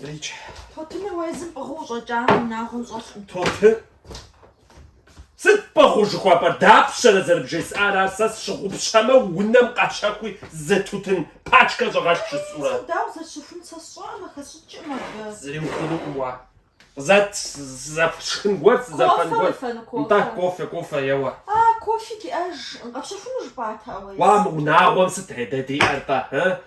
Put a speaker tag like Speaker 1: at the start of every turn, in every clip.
Speaker 1: Дричхь. Тутыныр
Speaker 2: уэ езым пӏыгъыу ущӏэкӏам унагъуэм
Speaker 1: щӏэлъкъым. Тутын. Сыт пӏыгъыу жыхуэпӏэр? Дапщэрэ зэрыбжесӏар ар? Сэ сщыгъупщэмэ, унэм къэщэхуи зы тутын пачкэ щӏэгъэлъ жысӏэурэ. Сэ дауэ зэрысщэхун сэ сщӏэӏым,
Speaker 2: хэсщӏыкӏым абы. Зыри ухъунукъым
Speaker 1: уэ. Къызэт, сызэфшхын гуэр, сызэфэн гуэр. Кофе уефэну, кофе? Нтӏэ, кофе, кофе, еуэ. А,
Speaker 2: кофе диӏэжкъым. Къэпщэхуну жыпӏатэ ауэ езым. Уа, мы унагъуэм сыт
Speaker 1: редэ диӏэр-тӏэ, ы?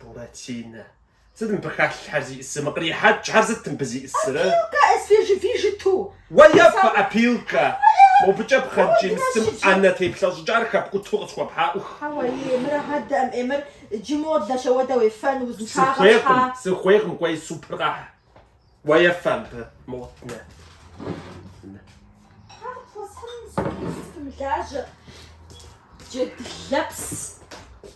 Speaker 1: Буратинэ. Сыт мыбы халъхьэр зиӏысыр? Мы кърихьэкӏхэр сыт мыбы зиӏысыр? Опилка
Speaker 2: свежевыжату. Уефэ
Speaker 1: опилка. Мобыкӏэ пхъэнкӏий мысым ӏэнэ теплъэщӏыкӏар хэпкӏуту къысхуэпхьа, ӏух. Хьэуэ, ей,
Speaker 2: мыр адэӏэм, ей, мыр джы модэ, щэ уэ дэ уефэн, узыншагъэм щхьа? Сыхуейкъым, сыхуейкъым, кӏуэи
Speaker 1: супыр къэхь. Уефэ абы, мыгъуэт нэ. Хьэр пхуэсхьыным
Speaker 2: сымылажьэ. Джэд лэпс.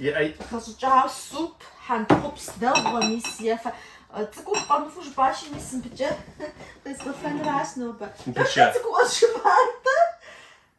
Speaker 2: Иӏэй.
Speaker 1: Хэщӏыкӏауэ
Speaker 2: суп, хьэнтхъупс дэгъуэ, мис ефэ. Цӏыкӏур къэмыфу жыпӏащи, мис мыбыкӏэ къезгъэфэнращ нобэ. Мыбыкӏэ. Цӏыкӏур къэзжыпӏар.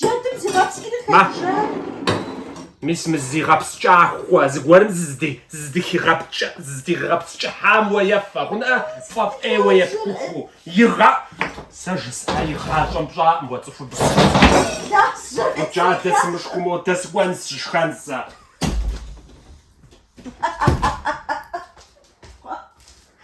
Speaker 2: Джэдым зигъэпскӏри хэкӏыжа?
Speaker 1: Мис мы зигъэпскӏахуэ зыгуэрым зыздигъэпскӏыхьам уэ ефэ, хъунӏэ, фӏэфӏ ӏейуэ епхухыу, игъэ. Сэ жысӏа игъащӏэм пщӏакъым уэ цӏыхубз. Ӏукӏ адэ, сымышхыу модэ сыкӏуэнщ, сышхэн сэ.